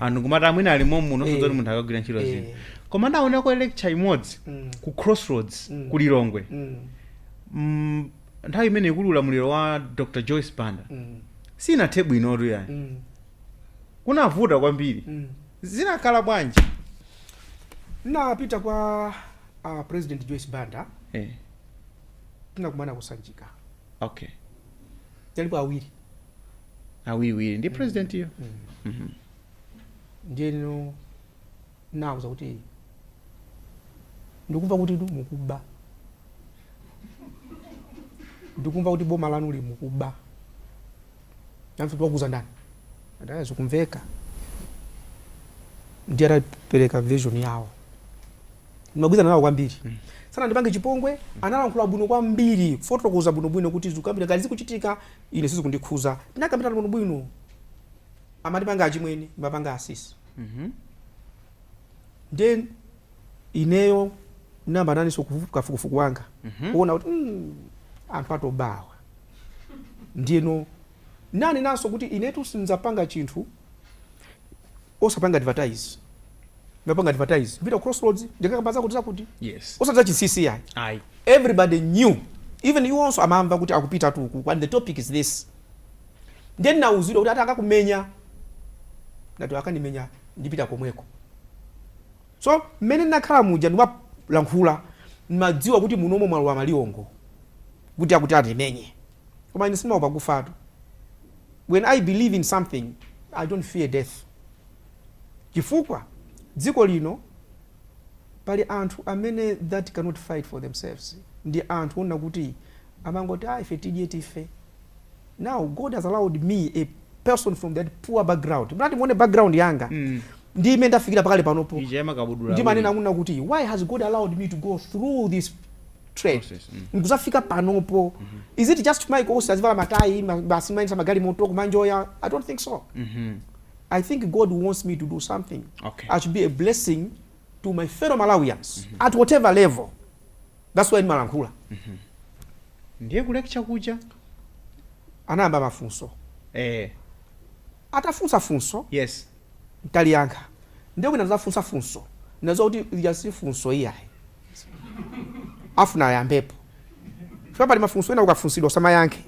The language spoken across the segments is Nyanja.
anthu ngomati amwene ali momu Eh. nso zoti munthu akagwira ntchito Eh. zino koma ndinaonerako lecture imodzi Mm. ku crossroads Mm. ku lilongwe Mm. Mm, nthawi imene ikuli ulamuliro wa dr joyce banda Mm. sinathe bwinotu ayi Mm. kunavuta kwambiri Mm. zinakhala bwanji ndinapita kwa uh, president joyce banda eh, tinakumana kusanjika okay talipo awiri awiriwiri ndi presidentiyo Mhm. ndiye ine ndinawauza kuti ndikumva kuti mukuba ndikumva kuti boma lanuli mukuba anafunsa kuti wakuuza ndani ndati ayi zikumveka ndiye atapereka version yawo ndimagwirizana nawo kwambiri mm. sanandipange chipongwe mm. analankhula bwino kwambiri kufotokoza bwinobwino kuti zikuyambira ngati zikuchitika ine sizikundikhuza tinakambirana bwinobwino amandipanga achimwene ndimawapanga asisi mm-hmm. nde ineyo ndinapanganso kafukufuku wanga mm-hmm. kuona kuti mm, anthu atopa awa ndiyeno ndinanenanso kuti inetu sindizapanga chinthu osapanga advertise ndinapanga advertise ndipita crossroads ndikakamba zakuti zakuti yes osati zachinsinsi ayi ayi everybody knew even you also amamva kuti akupitatu uku and the topic is this ndiye ndinauzidwa kuti ati akakumenyani ndati akandimenya ndipita komweko so mmene ndinakhala muja ndimalankhula ndimadziwa kuti munomo mwalowa maliwongo kuti akuti andimenye koma ine sindimaopa kufatu when I believe in something I don't fear death chifukwa dziko lino pali anthu amene that cannot fight for themselves ndi anthu onena kuti amangoti ah ife tidye tife now God has allowed me a person from that poor background mukati muone background yanga mm. ndi mmene ndafikira pakale panopo ndimanena kunena kuti why has God allowed me to go through this trade Process, mm. nkuzafika panopo is it just Maiko onse azivala matayi ma- basi kumayendetsa magalimoto kumanjoya i don't think so Mhm. i think god wants me to do something Okay. i should be a blessing to my fellow malawians at whatever level that's why ndimalankhula ndiye ku lecture kuja anayamba mafunso eh, atafunsa funso yes Ndinaliyankha. Ndiye wina atafunsa funso, ndinadziwa kuti ili si funso iyayi. Afuna ayambepo. Chifukwa pali mafunso ena ukafunsidwa usamayankhe.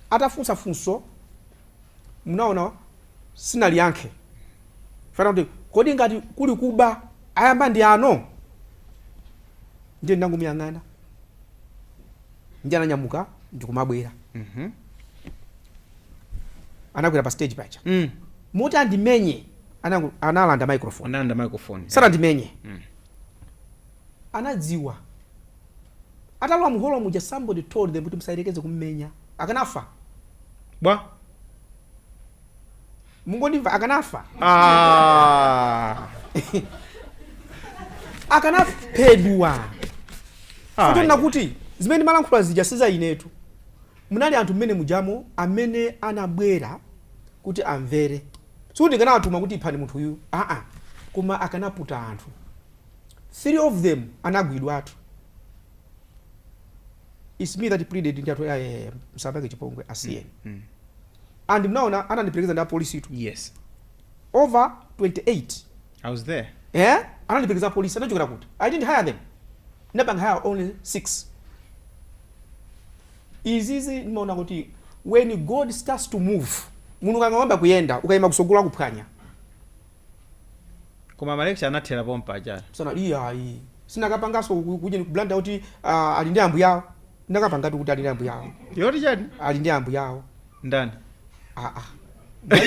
Atafunsa funso, munaona sindinaliyankhe. Chifukwa anati, kodi ngati kuli kuba ayamba ndi ano? Ndiye ndinangomuyang'ana. ndi ananyamuka ndikumabwera anakwera pa stage paja Mm. moti andimenye analanda microphone Analanda microphone. sanandimenye Mm. anadziwa atalowa muholo muja somebody told them kuti musayerekeze kummenya akanafa Bwa. mungondimva akanafa Ah. akanaphedwa Ah, osanena kuti zimene ndimalankhula zija siza inetu munali anthu mmenemujamo amene anabwera kuti amvere sikuti ndinawatuma kuti iphani munthu uyu aa koma akanaputa anthu three of them anagwidwatu its me that pleaded ndi athu musawachite chipongwe asiyeni and mnaona anandiperekeza ndi apolisitu yes over 28 i was there eh anandiperekeza apolisi anachokera kuti i didn't hire them ndinapanga hire only 6 izizi ndimaona kuti when god starts to move munthu ukangoyamba kuyenda ukaima kutsogolo akuphwanya koma malecture anathera pompaja basi iyayi sindinakapangenso kuja ku Blantyre kuti uh, ali ndi ambuyawo Ndinakapangatu kuti ali ndi ambuyawo. Yoti chani? Ali ndi ambuyawo. Ndani? Aa.